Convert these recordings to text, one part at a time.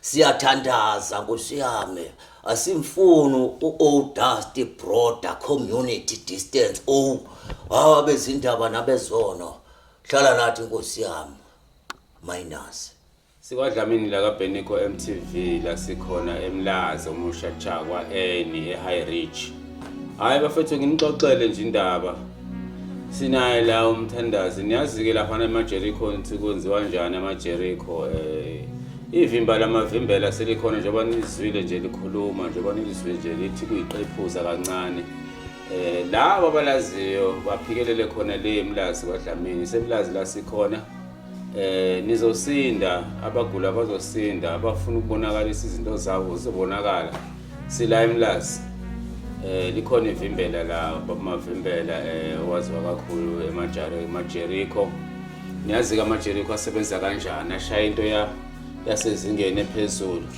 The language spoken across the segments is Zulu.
Siyathandaza Nkosi yami asimfuni u-old dusty broader community distance o hawa bezindaba nabezono hlala nathi nkosi yami minus sikwadlamini lakabhenico mtv lasikhona emlazi omusha jakwa eni e-high rich Hayi bafethu nginixoxele nje indaba. Sinaye la umthandazi niyazi-ke laphana emaJericho ukuthi kwenziwa njani amaJericho um eh, ivimba lamavimbela selikhona njengoba nilizwile nje likhuluma njengoba nilizwile nje lithi kuyiqephuza kancane um labo abalaziyo baphikelele khona le mlazi kwadlamini semlazi la sikhona eh nizosinda abagula bazosinda abafuna ukubonakalisa izinto zabo zizobonakala sila emlazi eh likhona ivimbela la babumavimbela eh owaziwa kakhulu emajaro emajeriko niyazi ke amajeriko asebenza kanjani ashaya into ya yasezingeni ephezulu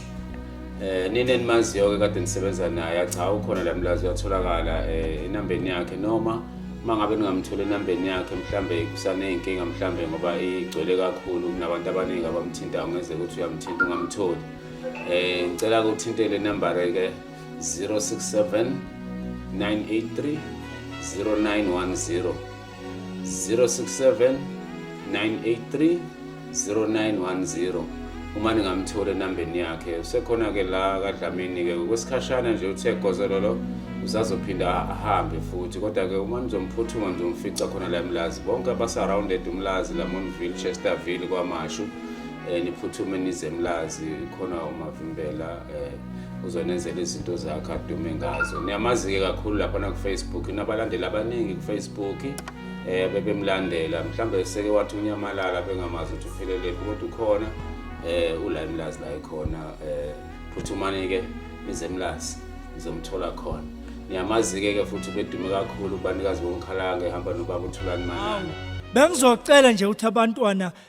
Eh nini enimaziyo ke kade nisebenza naye acha ukhona la mlazi uyatholakala eh inambeni yakhe noma mangabe ningamthola enambeni yakhe mhlambe kusaneyinkinga mhlambe ngoba igcwele kakhulu kunabantu abaningi abamthintayo ngeze ukuthi uyamthinta ungamtholi eh ngicela ukuthinte le number ke 067 983 0910 067 983 0910 uma ningamtholi enambeni yakhe usekhona-ke la kadlamini-ke ngokwesikhashana nje uthe gozelolo usazophinda ahambe futhi kodwa-ke uma nizomphuthuka nizomfica khona la emlazi bonke abasurrounded umlazi lamonville chesterville kwamashu um niphuthume nize emlazi khona umavimbela um uzonenzela izinto zakhe adume ngazo niyamazi-ke kakhulu laphana kufacebook inabalandeli abaningi kufacebook um bebemlandela mhlawumbe seke wathi unyamalala bengamazi ukuthi uphelelepi kodwa ukhona um ula emlazi la ekhona um phuthumani-ke nize emlazi nizomthola khona niyamazi-ke ke futhi bedume kakhulu ubanikazi bomkhalange ehamba nobaba uthulani manana bengizocela nje ukuthi abantwana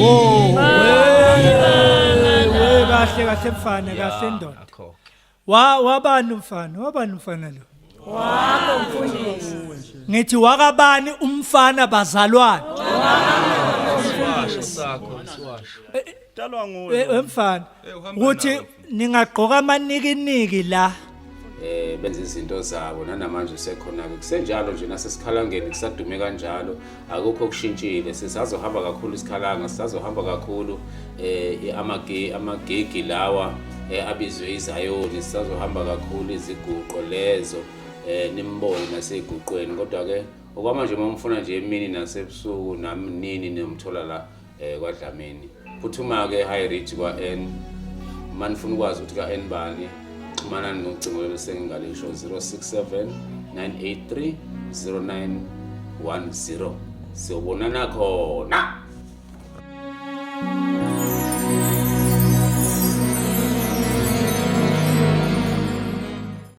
Wo. Wewe kahle kahle mfana kahle ndoda. Akho. Wa wabani umfana? Wabani umfana lo? Wakho mfundisi. Ngithi wakabani umfana bazalwane? Siwasho sakho, siwasho. Dalwa nguwe. Eh, eh, mfana Eh, uhamba ukuthi nawe. ningagqoka amanikiniki la eh benza izinto zabo nanamanje usekhona-ke kusenjalo nje nasesikhalangeni kusadume kanjalo akukho okushintshile sisazohamba kakhulu isikhalanga sisazohamba kakhulu eh amagi- amagigi lawa eh, abizwe izayoni sisazohamba kakhulu iziguqo lezo eh nimbone naseyiguqweni kodwa-ke okwamanje uma umfuna nje emini nasebusuku nami nini nimthola la eh kwaDlamini phuthuma ke high reach kwa N mani funa ukwazi ukuthi ka N bani xhumana nocingo elisengingalisho 067 983 0910 siyobonana khona